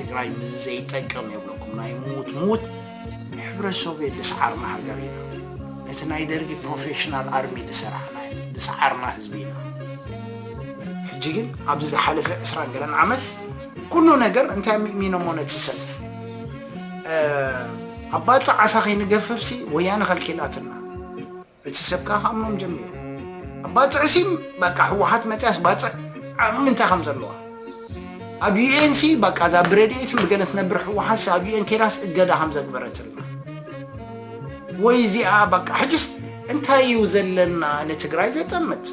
ትግራይ ምስ ዘይጠቅም የብለኩም ናይ ምዉት ምዉት ሕብረተሰቡ የደስዓርና ሃገር ኢና ነቲ ናይ ደርጊ ፕሮፌሽናል ኣርሚ ዝሰራሕና ዝሰዓርና ህዝቢ ኢና ሕጂ ግን ኣብዚ ዝሓለፈ ዕስራ ገለን ዓመት ኩሉ ነገር እንታይ ምእሚኖሞ ነቲ ሰብ ኣብ ባፅዕ ዓሳ ከይንገፈፍሲ ወያነ ከልኪላትና እቲ ሰብ ከዓ ከኣምኖም ጀሚሩ ኣብ ባፅዕ ሲ በቃ ህወሓት መፅያስ ባፅዕ ኣብ ምንታይ ከም ዘለዋ ኣብ ዩኤን ሲ በቃ እዛ ብረድኤትን ብገለ ትነብር ህወሓት ሲ ኣብ ዩኤን ከይዳስ እገዳ ከም ዘግበረትልና ወይ እዚኣ በቃ ሕጅስ እንታይ እዩ ዘለና ንትግራይ ዘጠምት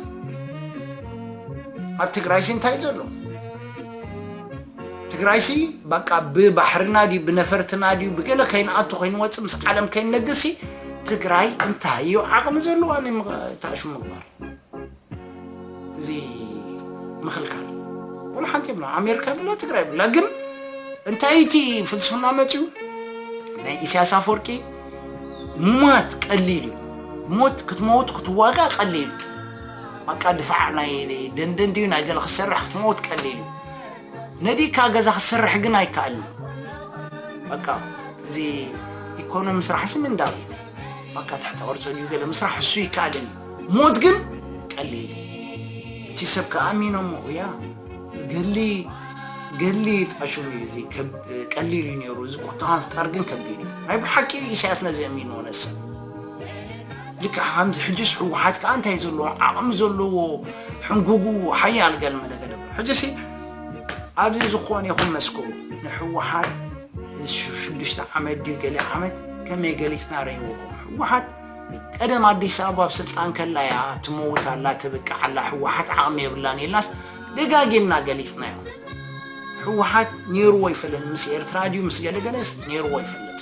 ኣብ ትግራይ ሲ እንታይ እዩ ዘሎ ትግራይሲ በቃ ብባሕርና ድዩ ብነፈርትና ድዩ ብገለ ከይንኣቱ ከይንወፅእ ምስ ዓለም ከይንነግሲ ትግራይ እንታይ እዩ ዓቕሚ ዘለዎ ኣነ ተኣሹ ምግባር እዚ ምኽልካል ወላ ሓንቲ የብላ ኣሜሪካ የብላ ትግራይ የብላ ግን እንታይ እቲ ፍልስፍና መፅኡ ናይ ኢሳያስ ኣፈወርቂ ሟት ቀሊል እዩ ሞት ክትመውት ክትዋጋ ቀሊል እዩ በቃ ድፋዕ ናይ ደንደን ድዩ ናይ ገለ ክትሰርሕ ክትመውት ቀሊል እዩ ነዲካ ገዛ ክትሰርሕ ግን ኣይከኣልን በቃ እዚ ኢኮኖሚ ስራሕሲ ምንዳብ እዩ በቃ ትሕተ ቅርፂ ድዩ ገለ ምስራሕ እሱ ይከኣልን እዩ ሞት ግን ቀሊል እቲ ሰብ ከኣሚኖሞ እያ ገሊ ገሊ ጣሹም እዩ እዚ ቀሊል እዩ ነይሩ እዚ ቁጠባ ምፍጣር ግን ከቢድ እዩ ናይ ብሓቂ ኢሳያስ ነዚ ኣሚንዎ ነሰብ ልክዕ ከምዚ ሕጅስ ህወሓት ከዓ እንታይ ዘለዎ ዓቕሚ ዘለዎ ሕንጉጉ ሓያል ገልመ ነገር ሕጅሲ ኣብዚ ዝኾነ ይኹን መስክሩ ንህወሓት ሽዱሽተ ዓመት ድዩ ገለ ዓመት ከመይ ገሊፅና ረይዎኹም ህወሓት ቀደም ኣዲስ ኣበባ ኣብ ስልጣን ከላ እያ ትመውት ኣላ ትብቅዕ ኣላ ህወሓት ዓቕሚ የብላን የላስ ደጋጊምና ገሊፅና እዮም ህወሓት ነይርዎ ይፈልጥ ምስ ኤርትራ ድዩ ምስ ገለገለስ ነይርዎ ይፈልጥ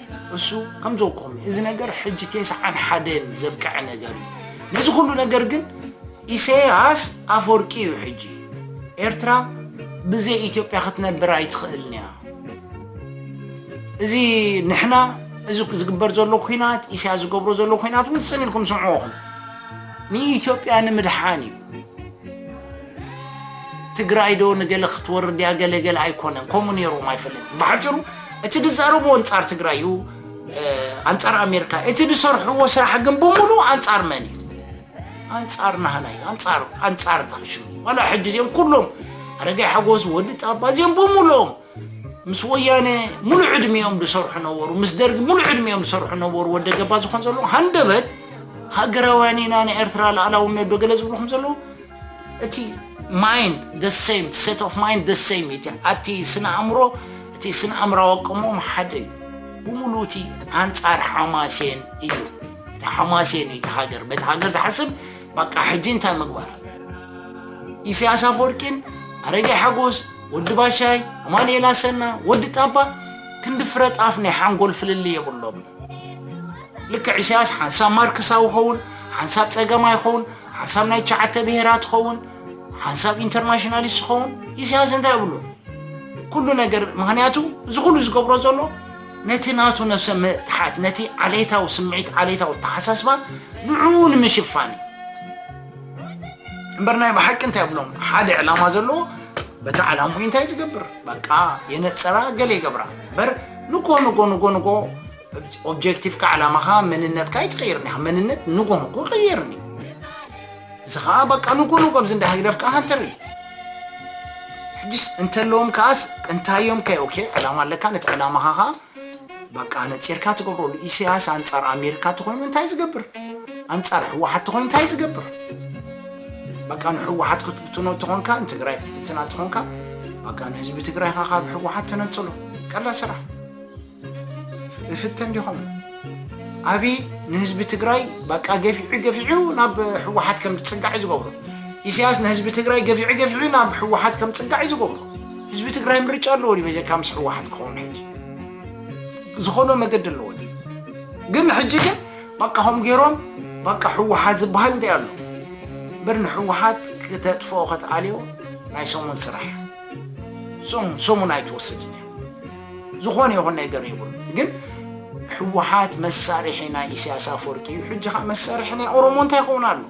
እሱ ከምዘኩም እዚ ነገር ሕጂ ቴስዓን ሓደን ዘብቀዐ ነገር እዩ ነዚ ኩሉ ነገር ግን ኢሰያስ ኣፈወርቂ እዩ ሕጂ ኤርትራ ብዘይ ኢትዮጵያ ክትነብር ኣይትኽእልን እያ እዚ ንሕና እዚ ዝግበር ዘሎ ኩናት ኢሳያስ ዝገብሮ ዘሎ ኩናት እውን ጽን ኢልኩም ስምዕኹም ንኢትዮጵያ ንምድሓን እዩ ትግራይ ዶ ንገለ ክትወርድ እያ ገለ ገለ ኣይኮነን ከምኡ ነይሮም ኣይፈለጥን ብሓፂሩ እቲ ዝዛረብዎ ኣንፃር ትግራይ እዩ ኣንፃር ኣሜሪካ እቲ ዝሰርሕዎ ስራሕ ግን ብምሉ ኣንፃር መን እዩ ኣንፃር ናህና እዩ ኣንፃር ኣንፃር ታሽሙ ዋላ ሕጂ እዚኦም ኩሎም ኣረጋይ ሓጎስ ወዲ ጣባ እዚኦም ብምሉኦም ምስ ወያነ ሙሉእ ዕድሜኦም ዝሰርሑ ነበሩ ምስ ደርጊ ሙሉእ ዕድሜኦም ዝሰርሑ ነበሩ ወደ ገባ ዝኾን ዘለዎ ሃንደበት ሃገራውያን ኢና ንኤርትራ ላእላውነት ዶ ገለ ዝብሉ ከም ዘለዉ እቲ ማይንድ the same set of mind the same እቲ ኣቲ ስነ ኣእምሮ እቲ ስነ ኣእምራዊ ኣቀሞም ሓደ እዩ ብሙሉ እቲ ኣንጻር ሓማሴን እዩ እቲ ሓማሴን እዩ እቲ ሃገር በቲ ሃገር ትሓስብ በቃ ሕጂ እንታይ ምግባር ኢሳያስ ኣፈወርቂን ኣረጌ ሓጎስ ወዲ ባሻይ ኣማንኤል ኣሰና ወዲ ጣባ ክንዲ ፍረ ጣፍ ናይ ሓንጎል ፍልሊ የብሎም ልክዕ ኢሳያስ ሓንሳብ ማርክሳዊ ይኸውን ሓንሳብ ጸገማ ይኸውን ሓንሳብ ናይ ትሽዓተ ብሄራት ይኸውን ሓንሳብ ኢንተርናሽናሊስት ይኸውን ኢሳያስ እንታይ ይብሎ ኩሉ ነገር ምክንያቱ እዚ ኩሉ ዝገብሮ ዘሎ ነቲ ናቱ ነብሰ ምትሓት ነቲ ዓሌታዊ ስምዒት ዓሌታዊ ተሓሳስባ ንዕኡ ንምሽፋን እዩ እምበር ናይ ብሓቂ እንታይ ይብሎም ሓደ ዕላማ ዘለዎ በቲ ዕላምኡ እንታይ ዝገብር በቃ የነፀራ ገለ ይገብራ እምበር ንጎ ንጎ ንጎ ንጎ ኦብጀክቲቭካ ዕላማኻ መንነትካ ኣይትቕይርን ኢኻ መንነት ንጎ ንጎ ይቕየርን እዩ እዚ ከዓ በቃ ንጎ ንጎ ኣብዚ እንዳ ህግደፍ ከዓ ሃንተር እዩ ሕጅስ እንተለዎም ከዓስ እንታዮም ከ ኦኬ ዕላማ ኣለካ ነቲ ዕላማኻ ከዓ በቃ ነፂርካ ትገብረሉ ኢሳያስ ኣንፃር ኣሜሪካ ተኮይኑ እንታይ ዝገብር ኣንፃር ህወሓት ተኮይኑ እንታይ ዝገብር በቃ ንህወሓት ክትብትኖ ተኾንካ ንትግራይ ክትብትና ተኾንካ በቃ ንህዝቢ ትግራይካ ካብ ህወሓት ተነፅሎ ቀላ ስራሕ ፍትን ዲኹም ኣብይ ንህዝቢ ትግራይ በቃ ገፊዑ ገፊዑ ናብ ሕወሓት ከም ዝፅጋዕ ዝገብሮ ኢሳያስ ንህዝቢ ትግራይ ገፊዑ ገፊዑ ናብ ሕወሓት ከም ዝፅጋዕ ዝገብሮ ህዝቢ ትግራይ ምርጫ ኣለዎ ድዩ በጀካ ምስ ሕወሓት ክኸውን ሕጂ ዝኾነ መገዲ ኣለዎ ድዩ ግን ሕጂ ግን በቃ ከም ገይሮም በቃ ሕወሓት ዝበሃል እንታይ ኣሎ እምበር ንሕወሓት ክተጥፍኦ ከተኣልዮ ናይ ሰሙን ስራሕ ሰሙን ኣይትወስድን ዝኾነ ይኹን ነገር ይብሉ ግን ህወሓት መሳርሒ ናይ ኢሳያስ ኣፈወርቂ እዩ ሕጂ ከዓ መሳርሒ ናይ ኦሮሞ እንታይ ይኸውን ኣሎ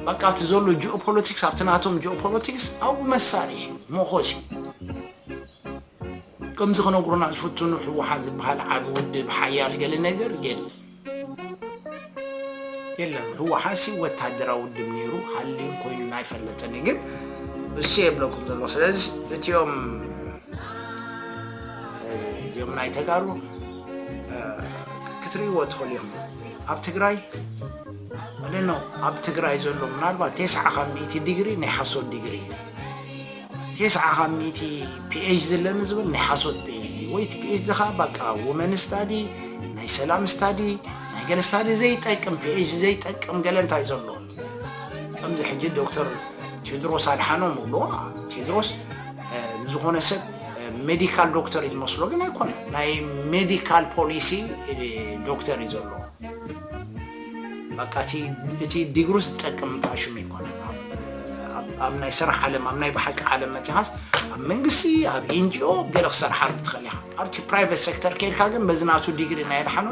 በቃ እቲ ዘሎ ጂኦፖለቲክስ ኣብቲ ናቶም ጂኦፖለቲክስ ኣብኡ መሳርሒ መኾስ እዩ ከምዚ ክነግሩና ዝፍትኑ ህወሓት ዝበሃል ዓብ ውድብ ሓያል ገለ ነገር የለን የለን ህወሓትሲ ወታደራዊ ውድብ ነይሩ ሃልዩን ኮይኑን ኣይፈለጠን እዩ ግን እሱ የብለኩም ዘለዎ ስለዚ እትዮም እዚኦም ናይ ተጋሩ ክትርእይዎ ትኽእሉ እዮም ኣብ ትግራይ ወደኖ ኣብ ትግራይ ዘሎ ምናልባት ቴስዓ ካብ ሚእቲ ዲግሪ ናይ ሓሶት ዲግሪ እዩ ቴስዓ ካብ ሚእቲ ፒኤች ዲ ኣለኒ ዝብል ናይ ሓሶት ፒኤች ዲ ወይ እቲ ፒኤች ዲ ከዓ በቃ ውመን ስታዲ ናይ ሰላም ስታዲ ናይ ገለ ስታዲ ዘይጠቅም ፒኤች ዲ ዘይጠቅም ገለ እንታይ ዘሎ ከምዚ ሕጂ ዶክተር ቴድሮስ ኣድሓኖም እብሎ ቴድሮስ እ፣ ንዝኾነ ሰብ ሜዲካል ዶክተር እዩ ዝመስሎ ግን ኣይኮነ ናይ ሜዲካል ፖሊሲ እ፣ ዶክተር እዩ ዘሎ በቃ እቲ እቲ ዲግሩ ዝጠቅም እንታይ ሽም ይኮነ ኣብ ናይ ስራሕ ዓለም ኣብ ናይ ብሓቂ ዓለም መፅኻስ ኣብ መንግስቲ ኣብ ኤንጂኦ ገለ ክሰርሓሉ ትኽእል ኢኻ ኣብቲ ፕራይቬት ሴክተር ከይድካ ግን በዚ ናቱ ዲግሪ ናይ ድሓኖ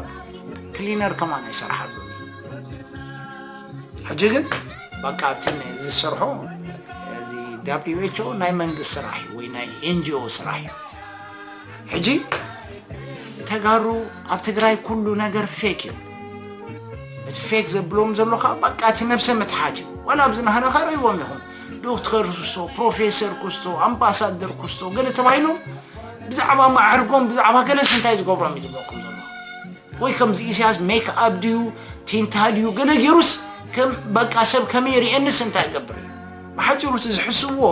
ክሊነር ከማን ኣይሰርሓሉ ሕጂ ግን በቃ ኣብቲ ዝሰርሖ እዚ ዳብሊው ኤች ኦ ናይ መንግስት ስራሕ እዩ ወይ ናይ ኤንጂኦ ስራሕ እዩ ሕጂ ተጋሩ ኣብ ትግራይ ኩሉ ነገር ፌክ እዩ እቲ ፌክ ዘብሎም ዘሎ ከዓ በቃ እቲ ነብሰ ምትሓት እዩ ዋላ ኣብዚ ናህና ከዓ ርእዎም ይኹም ዶክተር ኩስቶ ፕሮፌሰር ኩስቶ ኣምባሳደር ኩስቶ ገለ ተባሂሎም ብዛዕባ ማዕርጎም ብዛዕባ ገለስ እንታይ ዝገብሮም እዩ ዝብለኩም ዘሎ ወይ ከምዚ ኢሳያስ ሜክ ኣብ ድዩ ቲንታ ድዩ ገለ ገይሩስ ከም በቃ ሰብ ከመይ ርእየንስ እንታይ ይገብር እዩ ብሓፂሩ እቲ ዝሕስብዎ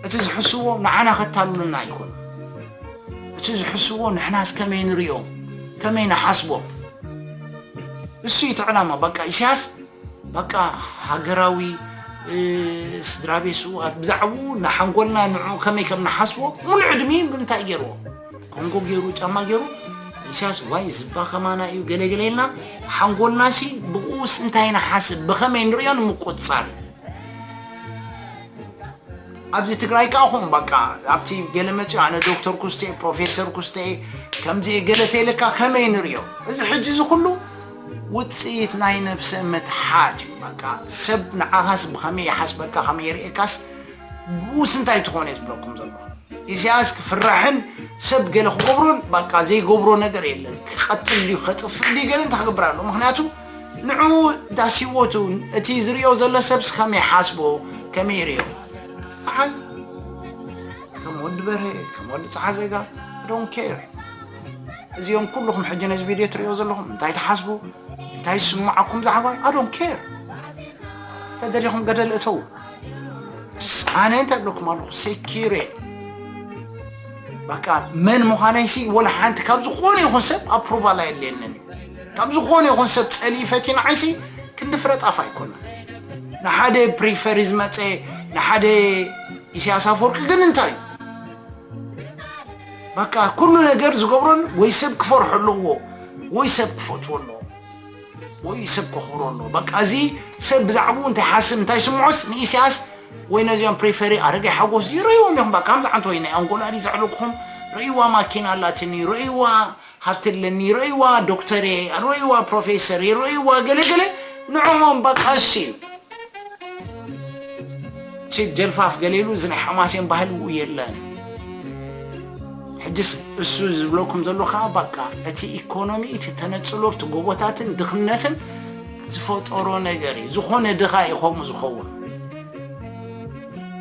እቲ ዝሕስዎ ንዓና ከታሉልና ኣይኮኑ እቲ ዝሕስዎ ንሕናስ ከመይ ንሪኦም ከመይ ንሓስቦም እሱ እቲ ዕላማ በቃ ኢሳያስ በቃ ሃገራዊ ስድራ ቤት ስውኣት ብዛዕባኡ ንሓንጎልና ንዕኡ ከመይ ከም ንሓስቦ ሙሉእ ዕድሚ ብምንታይ ገይርዎ ኮንጎ ገይሩ ጫማ ገይሩ ኢሳያስ ዋይ ዝባ ከማና እዩ ገለገለ ኢልና ሓንጎልናሲ ብኡስ እንታይ ንሓስብ ብኸመይ ንሪኦ ንምቁፅፃር ኣብዚ ትግራይ ከዓ ኹም በቃ ኣብቲ ገለ መፅዮ ኣነ ዶክተር ኩስተ ፕሮፌሰር ኩስተ ከምዚ ገለ ተይለካ ከመይ ንሪኦ እዚ ሕጂ እዚ ኩሉ ውፅኢት ናይ ነብሰ ምትሓት እዩ በቃ ሰብ ንዓኻስ ብኸመይ ይሓስበካ ከመይ የርእካስ ብኡስ እንታይ ትኾነ እዩ ዝብለኩም ዘሎ ኢሳያስ ክፍራሕን ሰብ ገለ ክገብሮን በቃ ዘይገብሮ ነገር የለን ክቐትል ድዩ ከጥፍእ ድዩ ገለ እንታይ ክገብር ኣሎ ምክንያቱ ንዕኡ ዳስ ሂወቱ እቲ ዝሪኦ ዘሎ ሰብስ ከመይ ሓስቦ ከመይ ይሪኦ በዓል ከም ወዲ በርሀ ከም ወዲ ፀዓዘጋ ዶን ኬር እዚኦም ኩልኹም ሕጂ ነዚ ቪድዮ ትሪኦ ዘለኹም እንታይ ትሓስቡ እንታይ ዝስማዓኩም ዛዕባይ ኣዶን ኬር ተደሊኹም ገደል እተው ኣነ እንታይ ብለኩም ኣለኹ ሴኪሬ በቃ መን ምዃነይሲ ወላ ሓንቲ ካብ ዝኾነ ይኹን ሰብ ኣፕሩቫል ኣየድልየንን እዩ ካብ ዝኾነ ይኹን ሰብ ጸሊኢ ፈትዩ ንዓይሲ ክንዲ ፍረ ጣፍ ኣይኮነን ንሓደ ፕሪፈሪ ዝመጸ ንሓደ ኢሳያስ ኣፈወርቂ ግን እንታይ እዩ በቃ ኩሉ ነገር ዝገብሮን ወይ ሰብ ክፈርሖ ኣለዎ ወይ ሰብ ክፈትዎ ኣለዎ ወይ ሰብ ከኽብሮ ኣለዎ በቃ እዚ ሰብ ብዛዕባኡ እንታይ ሓስብ እንታይ ስምዖስ ንኢሳያስ ወይ ነዚኦም ፕሪፈሪ ኣረገ ሓጎስ ድዩ ርእይዎም ኢኹም በቃ ከምዚ ዓንተ ወይ ናይ ኣንጎላ ድዩ ዘዕለኩኹም ርእይዋ ማኪና ኣላትኒ ርእይዋ ሃብቲ ኣለኒ ይረእይዋ ዶክተር እየ ይረእይዋ ፕሮፌሰር ይረእይዋ ገለ ገለ ንዕኦም ባቃ እሱ እዩ እቲ ጀልፋፍ ገለ ኢሉ እዚ ናይ ሓማሴን ባህሊ ው የለን ሕጅስ እሱ ዝብለኩም ዘሎ ከዓ ባቃ እቲ ኢኮኖሚ እቲ ተነፅሎ እቲ ጎቦታትን ድኽነትን ዝፈጠሮ ነገር እዩ ዝኾነ ድኻ እዩ ከምኡ ዝኸውን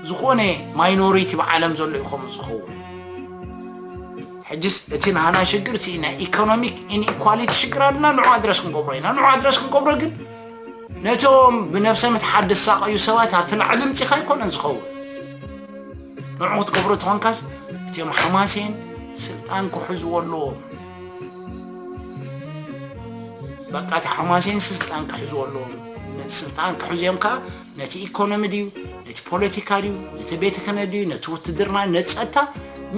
ዝኾነ ማይኖሪቲ ብዓለም ዘሎ እዩ ከምኡ ዝኸውን ሕጅስ እቲ ናህና ሽግር እቲ ናይ ኢኮኖሚክ ኢንኢኳሊቲ ሽግር ኣለና ንዑ ኣድረስ ክንገብሮ ኢና ንዑ ኣድረስ ክንገብሮ ግን ነቶም ብነብሰ ምትሓት ዝሳቐዩ ሰባት ኣብቲ ላዕሊ ምፂኻ ኣይኮነን ዝኸውን ንዑ ክትገብሮ ተኾንካስ እትዮም ሓማሴን ስልጣን ክሕዝዎ ኣለዎም በቃ እቲ ሓማሴን ስልጣን ክሕዝዎ ኣለዎም ስልጣን ክሕዙ እዮም ከዓ ነቲ ኢኮኖሚ ድዩ ነቲ ፖለቲካ ድዩ ነቲ ቤተ ክህነት ድዩ ነቲ ውትድርና ነቲ ፀጥታ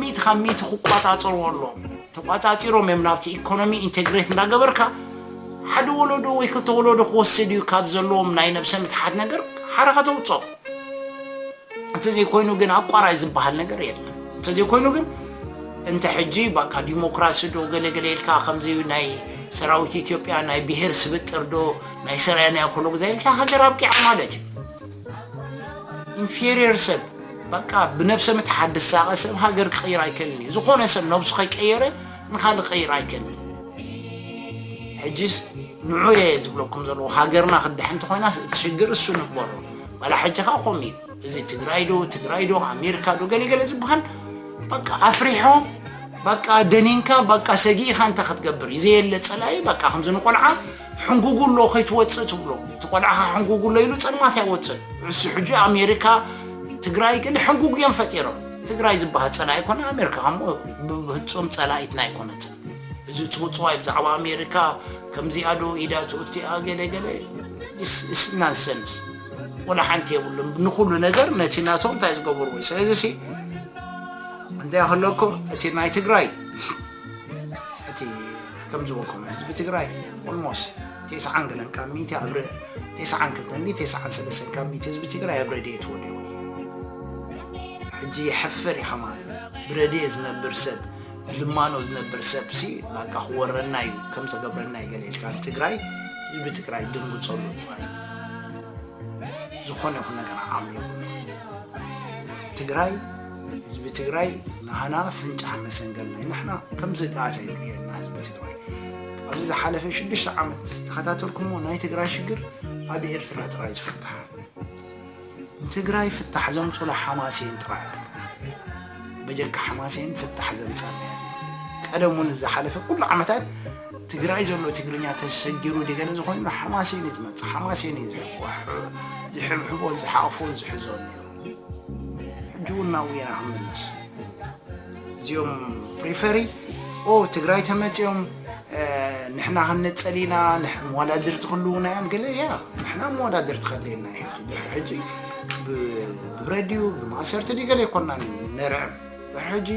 ሚእቲ ካብ ሚእቲ ክቋፃፀርዎ ኣለዎም ተቋፃፂሮም እዮም ናብቲ ኢኮኖሚ ኢንቴግሬት እንዳገበርካ ሓደ ወለዶ ወይ ክልተ ወለዶ ክወስድ እዩ ካብ ዘለዎም ናይ ነብሰ ምትሓት ነገር ሓራ ከተውፅኦም እንተዘይኮይኑ ግን ኣቋራጭ ዝበሃል ነገር የለን እንተዘይኮይኑ ግን እንተ ሕጂ በቃ ዲሞክራሲ ዶ ገለገለ ኢልካ ከምዚ ናይ ሰራዊት ኢትዮጵያ ናይ ብሄር ስብጥር ዶ ናይ ሰራየናዮ ኩሉ ግዜ እታ ሃገር ኣብቂዓ ማለት እዩ ኢንፌሪየር ሰብ በቃ ብነብሰ ምትሓት ድሳቐ ሰብ ሃገር ክቕይር ኣይከልን እዩ ዝኾነ ሰብ ነብሱ ከይቀየረ ንካልእ ክቕይር ኣይከልን እዩ ሕጂስ ንዑ እየ ዝብለኩም ዘለዎ ሃገርና ክድሕን እንተኮይናስ እቲ ሽግር እሱ ንግበሮ ዋላ ሕጂ ከዓ ከምኡ እዩ እዚ ትግራይ ዶ ትግራይ ዶ ኣሜሪካ ዶ ገለገለ ዝበሃል በቃ ኣፍሪሖም በቃ ደኒንካ በቃ ሰጊኢኻ እንታይ ክትገብር እዩ ዘየለ ፀላኢ በቃ ከምዚ ንቆልዓ ሕንጉጉሎ ከይትወፅእ ትብሎ እቲ ቆልዓኻ ሕንጉጉሎ ኢሉ ፀልማት ኣይወፅን ንሱ ሕጂ ኣሜሪካ ትግራይ ግን ሕንጉግ እዮም ፈጢሮም ትግራይ ዝበሃል ፀላኢ ኣይኮነ ኣሜሪካ ከሞ ብፍፁም ፀላኢትና ኣይኮነትን እዚ ፅውፅዋይ ብዛዕባ ኣሜሪካ ከምዚኣ ዶ ኢዳ ትእቲኣ ገለ ገለ ናንሰንስ ወላ ሓንቲ የብሉም ንኩሉ ነገር ነቲ ናቶም እንታይ ዝገበርዎ እዩ ስለዚ ሲ እንታይ ከለኩም እቲ ናይ ትግራይ እቲ ከም ዝበልኩም ህዝቢ ትግራይ ኦልሞስ ቴስዓን ገለን ካብ ሚእቲ ኣብ ቴስዓን ክልተን ዲ ቴስዓን ሰለስተን ካብ ሚእቲ ህዝቢ ትግራይ ኣብ ረድኤት ወዲቑ ሕጂ ይሕፍር እዩ ከማን ብረድኤ ዝነብር ሰብ ብልማኖ ዝነብር ሰብ ሲ ባቃ ክወረና እዩ ከም ዘገብረና እዩ ገለ ኢልካ ትግራይ ህዝቢ ትግራይ ደንግፀሉ ጥፋይ ዝኾነ ይኹን ነገር ዓቕሚ የብሉ ትግራይ ህዝቢ ትግራይ ናህና ኣፍንጫ መሰንገል ናይ ንሕና ከምዚ ጣዓት ኣይንርእየና ህዝቢ ትግራይ ኣብዚ ዝሓለፈ ሽዱሽተ ዓመት ዝተኸታተልኩሞ ናይ ትግራይ ሽግር ኣብ ኤርትራ ጥራይ ዝፍታሕ ንትግራይ ፍታሕ ዘምፅሉ ሓማሴን ጥራይ ኣሎ በጀካ ሓማሴን ፍታሕ ዘምፀና ቀደም እውን ዝሓለፈ ኩሉ ዓመታት ትግራይ ዘሎ ትግርኛ ተሰጊሩ ደገለ ዝኾይኑ ሓማሴን እዩ ዝመፅእ ሓማሴን እዩ ዝሕብሕቦን ዝሓቕፎን ዝሕዞን ነይሩ ሕጂውና ውና ክንምለስ እዚኦም ፕሪፈሪ ኦ ትግራይ ተመፅኦም ንሕና ክንነፀል ኢና መወዳድርቲ ክልውና እዮም ገለ እያ ንሕና መወዳድርቲ ከድልየና እዩ ድሕሪ ሕጂ ብረድዩ ብማእሰርቲ ድዩ ገለ ይኮና ነርዕም ድሕሪ ሕጂ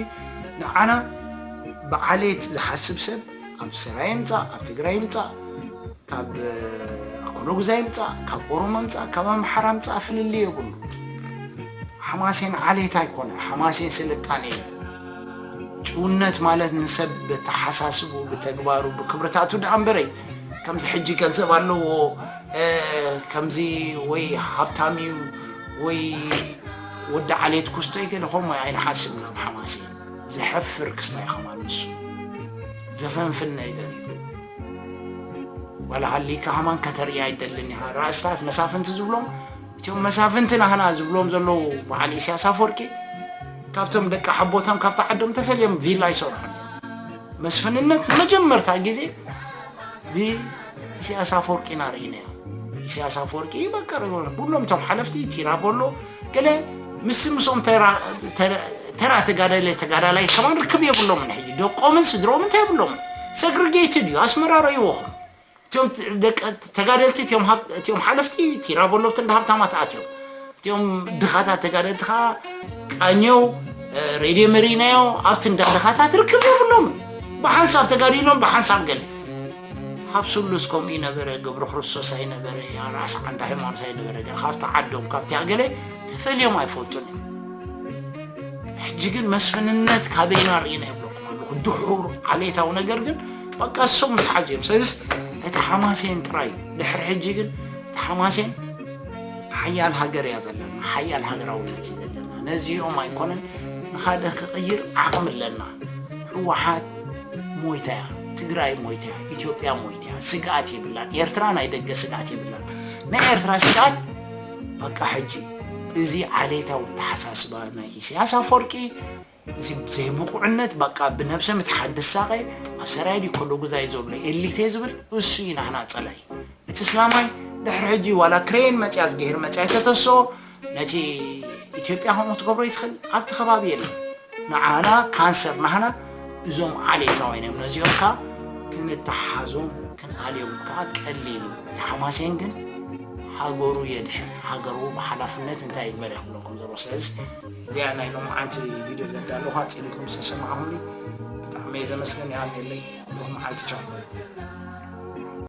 ንዓና ብዓሌት ዝሓስብ ሰብ ካብ ሰራየ ይምፃእ ካብ ትግራይ ይምፃእ ካብ ኣኮሎጉዛ ይምፃእ ካብ ኦሮሞ ምፃእ ካብ ኣምሓራ ምፃእ ፍልልይ የብሉ ሓማሴን ዓሌት ኣይኮነ ሓማሴን ስልጣኔ እዩ ጭውነት ማለት ንሰብ ብተሓሳስቡ ብተግባሩ ብክብርታቱ ድኣ እምበረይ ከምዚ ሕጂ ገንዘብ ኣለዎ ከምዚ ወይ ሃብታም እዩ ወይ ወዲ ዓሌት ኩስቶ ይገለ ከምኡ ኣይንሓስብን ኣብ ሓማሴን ዘሕፍር ክስታይ ከማን ንሱ ዘፈንፍነ ይደልዩ ዋላ ሃሊካ ከማን ከተርእያ ይደልን ኢኻ ራእስታት መሳፍንቲ ዝብሎም እቶም መሳፍንቲ ናህና ዝብሎም ዘለዉ በዓል ኢሳያስ ኣፈወርቂ ካብቶም ደቂ ሓቦቶም ካብቲ ዓዶም ተፈልዮም ቪላ ይሰርሑ መስፍንነት ንመጀመርታ ግዜ ብኢሳያስ ኣፈወርቂ ኢና ርኢናዮ ኢሳያስ ኣፈወርቂ በቀር ኩሎም እቶም ሓለፍቲ ቲራቮሎ ገለ ምስ ምስኦም ተራ ተጋዳላይ ተጋዳላይ ከማን ርክብ የብሎምን ሕጂ ደቆምን ስድሮምን እንታይ የብሎምን ሰግሪጌትድ እዩ ኣስመራ ረእይዎኹም እቲኦም ደቂ ተጋደልቲ እቲኦም ሃብ- እቲኦም ሓለፍቲ እቲ ራበሎብቲ እንዳ ሃብታማት ኣትዮም እቲኦም ድኻታት ተጋደልቲ ከዓ ቃኘው እ፣ ሬድዮ መሪናዮ ኣብቲ እንዳ ድኻታት ርክብ የብሎምን ብሓንሳብ ተጋዲሎም ብሓንሳብ ገለ ካብ ስሉስ ከምኡ ኣይነበረ ገብረ ክርስቶስ ኣይነበረ ራእሲ ዓንደ ሃይማኖት ኣይነበረ ግን ካብቲ ዓዶም ካብቲ ኣገለ ተፈልዮም ኣይፈልጡን እዮም ሕጂ ግን መስፍንነት ካበይና ርኢና ይብለኩም ኣለኹ ድሑር ዓሌታዊ ነገር ግን በቃ እሶም ምስ ሓዙ እዮም ስለዚ እቲ ሓማሴን ጥራይ እዩ ድሕሪ ሕጂ ግን እቲ ሓማሴን ሓያል ሃገር እያ ዘለና ሓያል ሃገራውነት እዩ ዘለና ነዚኦም ኣይኮነን ንካደ ክቕይር ዓቕሚ ኣለና ህወሓት ሞይታያ ትግራይ ሞይታያ ኢትዮጵያ ሞይታያ ስግኣት የብላን ኤርትራ ናይ ደገ ስግኣት የብላን ናይ ኤርትራ ስግኣት በቃ ሕጂ እዚ ዓሌታዊ ተሓሳስባ ናይ ኢሳያስ ኣፈወርቂ እዚ ዘይብቑዕነት በቃ ብነብሰ ምትሓት ድሳቐ ኣብ ሰራይ ድዩ ከሎ ጉዛይ ዘሎ ኤሊቴ ዝብል እሱ እዩ ናህና ፀላይ እቲ እስላማይ ድሕሪ ሕጂ ዋላ ክሬን መፅያ ዝገሄር መፅያ ተተስኦ ነቲ ኢትዮጵያ ከምኡ ትገብሮ ይትኽእል ኣብቲ ከባቢ የለን ንዓና ካንሰር ናህና እዞም ዓሌታውያን እዮም ነዚኦም ከዓ ክንተሓዞም ክንኣልዮም ከዓ ቀሊሉ ተሓማሴን ግን ሃገሩ የድሕን ሃገሩ ብሓላፍነት እንታይ ይግበር ይኽብለኩም ዘሎ ስለዚ እዚኣ ናይ ሎምዓንቲ ቪድዮ ዘዳለኹ ኣፅሊኩም ዝተሰማዕኹኒ ብጣዕሚ እየ ዘመስገን ይሃልየለይ ብሩኽ መዓልቲ ቻው